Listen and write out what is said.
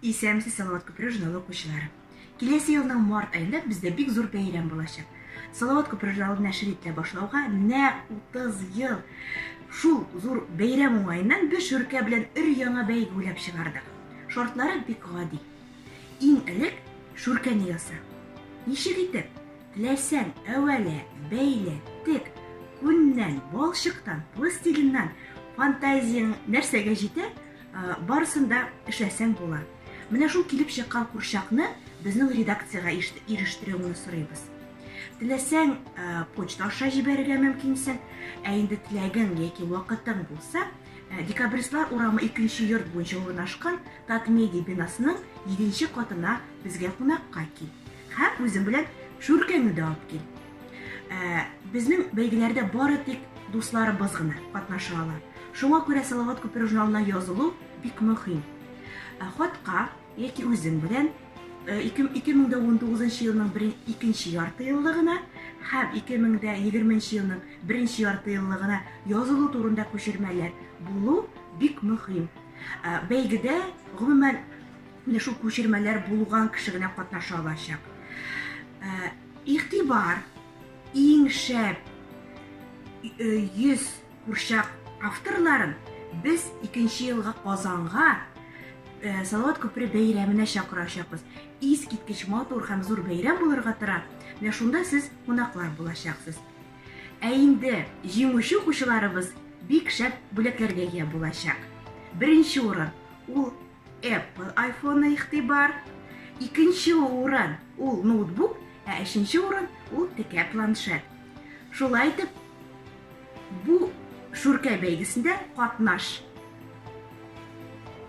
Исәмсез Салават күпере журналы укучылары. Киләсе елның март айында бездә бик зур бәйрәм булачак. Салават күпере журналы нәшер ителә башлауга нәкъ 30 ел. Шул зур бәйрәм уңаеннан без Шүркә белән өр-яңа бәйге уйлап чыгардык. Шартлары бик гади. Иң элек шүркәне яса. Ничек итеп? Теләсәң, әвәлә, бәйлә, тек, күннән, балчыктан, пластилиннан, фантазияң нәрсәгә җитә, барысын да эшләсәң була. Менә шул килеп чыккан курчакны безнең редакциягә ирештерүеңне сорыйбыз. Теләсәң, почта аша җибәрергә мөмкинсең, ә инде теләгең яки вакытың булса, Ә, Декабристлар урамы икенче йорт буенча урнашкан Татмедиа бинасының җиденче катына безгә кунакка кил. Һәм үзең белән шүркәңне дә алып кил. Ә, Безнең бәйгеләрдә бары тик дусларыбыз гына катнаша ала. Шуңа күрә Салават күпер журналына язылу бик мөһим. Ә, Хатка яки үзең белән э, ике- 2019 елның бер- икенче ярты еллыгына һәм 2020 елның Беренче яртыеллыгына язылу турында күчермәләр булу бик мөһим. Бәйгедә, гомумән, менә шул күчермәләр булган кеше генә катнаша алачак. Игътибар, иң шәп 100 курчак авторларын без икенче елга Казанга Салават күпере бәйрәменә чакырачакбыз. Искиткеч матур һәм зур бәйрәм булырга тора. Менә шунда сез кунаклар булачаксыз. Ә инде җиңүче укучыларыбыз бик шәп бүләкләргә ия булачак. Беренче урын ул Apple iPhone игътибар, икенче урын ул ноутбук, ә өченче урын ул текә планшет. Шулай итеп, бу Шүркә бәйгесендә катнаш.